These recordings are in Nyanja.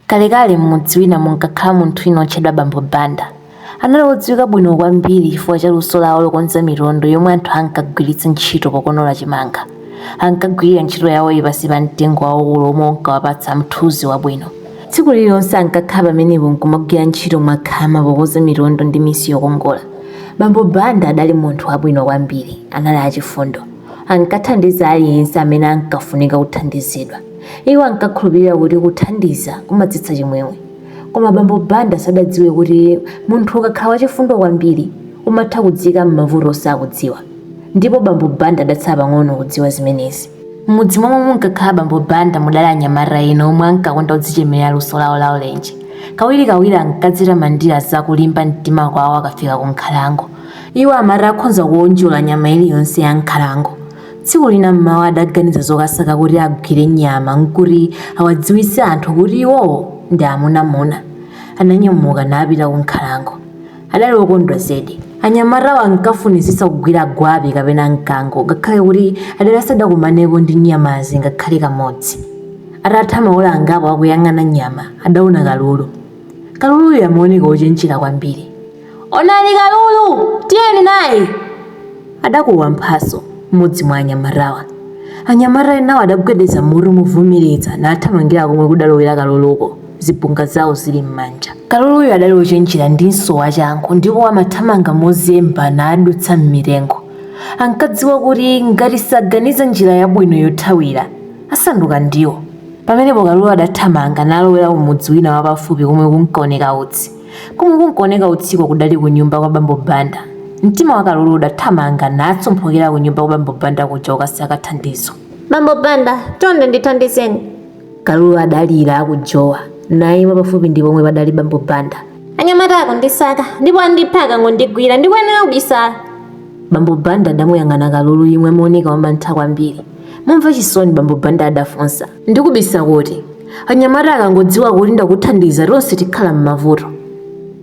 Kalekale m'mudzi wina munkakhala munthu wina wotchedwa Bambo Banda. Anali wodziwika bwino kwambiri chifukwa cha luso lawo lokonza mitondo yomwe anthu ankagwiritsa ntchito pokonola chimanga. Ankagwirira ntchito yawoyi pansi pa mtengo waukulu womwe unkawapatsa mthunzi wabwino. Tsiku lililonse ankakhala pamenepo n'kumagwira ntchito mwakhama pokonza mitondo ndi misi yokongola. Bambo Banda adali munthu wabwino kwambiri. Anali achifundo. Ankathandiza aliyense amene ankafunika kuthandizidwa. Iwo ankakhulupirira kuti kuthandiza kumadzetsa chimwemwe. Koma bambo Banda sadadziwe kuti munthu ukakhala wachifundo kwambiri, umatha kudziika m'mavuto osakudziwa. Ndipo bambo Banda adatsala pang'ono kudziwa zimenezi. M'mudzi momwe munkakhala bambo Banda mudali anyamata ena omwe ankakonda kudzichemerera luso lawo la ulenje. Kawirikawiri ankadzitamandira za kulimba mtima kwawo akafika ku nkhalango. Iwo amati akhonza kuwonjola nyama iliyonse ya m'nkhalango. Tsiku lina m'mawa adaganiza zokasaka kuti agwire nyama n'kuti awadziwitse anthu kuti iwowo ndi amunamuna. Ananyamuka napita kunkhalango. Adali wokondwa zedi. Anyamatawo ankafunitsitsa kugwira gwape kapena mkango ngakhale kuti adali asadakumanepo ndi nyamazi ngakhale kamodzi. Atatha maola angapo akuyang'ana nyama, adaona kalulu. Kaluluyo amaoneka wochenjera kwambiri. Onani kalulu, tiyeni naye, adakuwa Mphatso, mmodzi mwa anyamatawa. Anyamata enawo adagwedeza mutu movomereza nathamangira komwe kudalowera kaluluko, zibonga zawo zili m'manja. Kaluluyo adali wochenjera ndinso wachangu ndipo amathamanga mozemba nadutsa m'mitengo. Ankadziwa kuti ngati saganiza njira yabwino yothawira, asanduka ndiwo. Pamenepo kalulu adathamanga nalowera kumudzi wina wapafupi komwe kunkaoneka utsi. Komwe kunkuoneka utsiko kudali kunyumba kwa bambo Banda. Mtima wa Kalulu udathamanga natsomphokera kunyumba kwa bambo Banda kuja kukasaka thandizo. Bambo Banda, chonde ndithandizeni. Kalulu adalira akujowa naima pafupi ndi pomwe padali bambo Banda. Anyamata akundisaka ndipo andipha akangondigwira ndikuyenera kubisala. Bambo Banda adamuyang'ana Kalulu yemwe amaoneka wamantha kwambiri. Momva chisoni bambo Banda adafunsa. Ndikubisa kuti? Anyamata akangodziwa kuti ndakuthandiza tonse tikhala m'mavuto.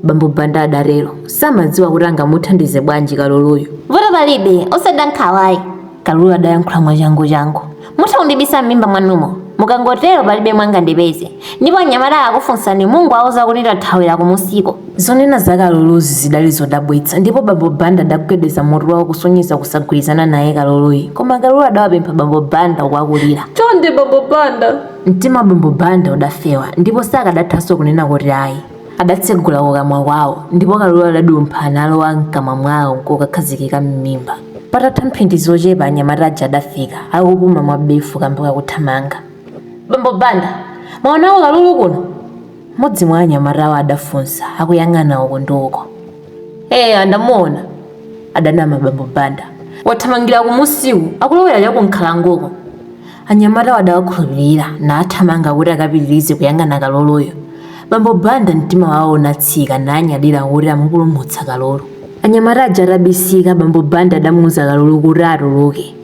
Bambo Banda adatero. Samadziwa kuti angamuthandize bwanji kaluluyu. Vuto palibe, osada nkhawayi. Kalulu adayankhula mwachanguchangu. Mutha kundibisa m'mimba mwanumo. Mukangotero palibe angandipeze. Ndipo anyamata akakufunsani mungowauza kuti ndathawira kumusiko. Zonena za Kaluluzi zidali zodabwitsa ndipo bambo Banda adagwedeza mutu wawo kusonyeza kusagwirizana naye Kaluluyi. Koma Kalulu adawapempha bambo Banda uku akulira. Chonde bambo Banda! Mtima wa bambo Banda udafewa ndipo sakadathanso kunena kuti ayi. Adatsegula kukamwa kwawo ndipo Kalulu adadumpha nalowa mkamwa mwawo nkukakhazikika m'mimba. Patatha mphindi zochepa anyamata aja adafika, akupuma mwawefu kamba kakuthamanga. Bambo Banda! Mwaonako Kalulu kuno? Mmodzi mwa anyamatawo adafunsa akuyang'ana uko ndi uko. Eya, ndamuona, adanama bambo Banda. Wathamangira kumusiku, akulowera cha kunkhalangoko. Anyamatawo adawakhulupirira nathamanga kuti akapitirize kuyang'ana Kaluluyo. Bambo Banda mtima wawo unatsika nanyadira kuti amupulumutsa Kalulu. Anyamata aja atabisika, bambo Banda adamuuza Kalulu kuti atuluke.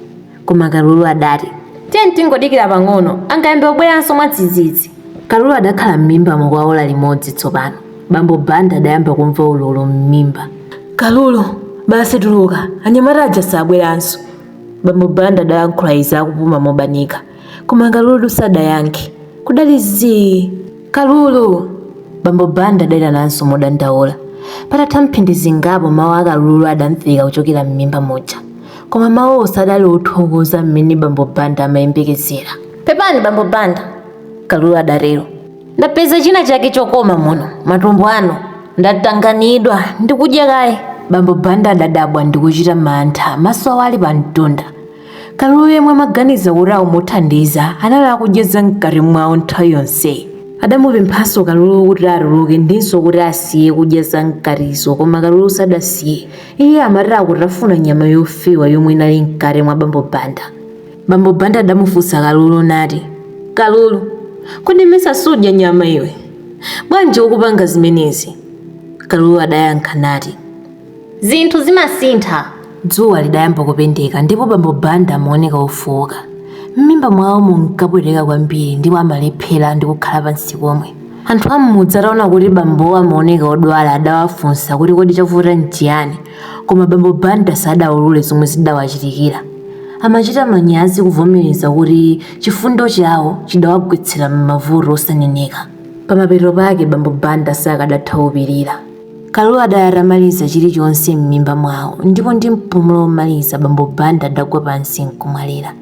Koma Kalulu adati, Tiyeni tingodikira pang'ono, angayambe kubweranso mwadzidzidzi. Kalulu adakhala m'mimbamo kwa ola limodzi tsopano. Bambo Banda adayamba kumva ululu m'mimba. Kalulu, basi tuluka, anyamata aja sabweranso. Bambo Banda adayankhula izi akupuma mobanika. Koma Kalulu sadayankhe. Kudali zii! Kalulu! Bambo Banda adaitananso modandaula. Patatha mphindi zingapo mawu a Kalulu adamveka kuchokera m'mimba muja. koma mawuwo sadali othokoza mmene bambo banda amayembekezera pepani bambo banda kalulu adatero ndapeza china chake chokoma muno matumbo anu ndatanganidwa ndikudya kaye bambo banda adadabwa ndikuchita mantha maso awo ali pa mtunda kalulu yemwe amaganiza kuti akumuthandiza anali akudya za mkati mwawo nthawi yonseyi adamupemphanso kalulu kuti atuluke ndinso kuti asiye kudya za mkatizo koma kalulu sadasiye iye amatakutafuna nyama yofewa yomwe inali mkati mwa bambo banda bambo banda adamufunsa kalulu nati kalulu kodi mesa sudya nyama iwe bwanji ukupanga zimenezi kalulu adayankha nati zinthu zimasintha dzuwa lidayamba kupendeka ndipo bambo banda amaoneka ofowoka m'mimba mwawo munkapweteka kwambiri ndipo amalephera ndi kukhala pansi komwe Anthu a m'mudzi ataona kuti bambowo amaoneka odwala adawafunsa kuti kodi chavuta n'chiyani koma bambo Banda sadaulule zomwe zidawachitikira. Amachita manyazi kuvomereza kuti chifundo chawo chidawagwetsera m'mavuto osaneneka. Pamapeto pake bambo Banda sakadatha kupirira. Kalulu adali atamaliza chilichonse m'mimba mwawo ndipo ndi mpumulo womaliza bambo Banda adagwa pansi n'kumwalira.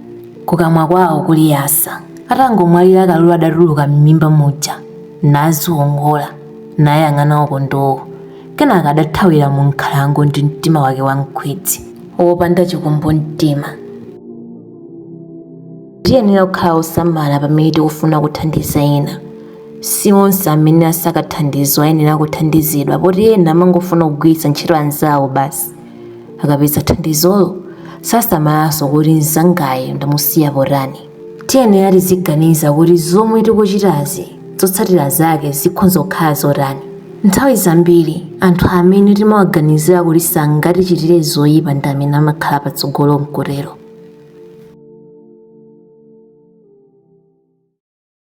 Kukamwa kwawo kuli yasa. Atangomwalira Kalulu adatuluka m'mimba muja naziwongola, nayang'ana uko ndi uko. Kenaka adathawira munkhalango ndi mtima wake wankhwidzi, wopanda chikumbumtima. Tiyenera kukhala osamala pamene tikufuna kuthandiza ena. Si onse amene asaka thandizo ayenera kuthandizidwa poti ena amangofuna kugwiritsa ntchito anzawo basi. akapeza thandizolo sasamalanso kuti mzangayo ndamusiya potani tiyenera tiziganiza kuti zomwe tikuchitazi zotsatira zake zikhonza kukhala zotani nthawi zambiri anthu amene timawaganizira kuti sangatichitire zoyipa ndi amene amakhala patsogolo mkutero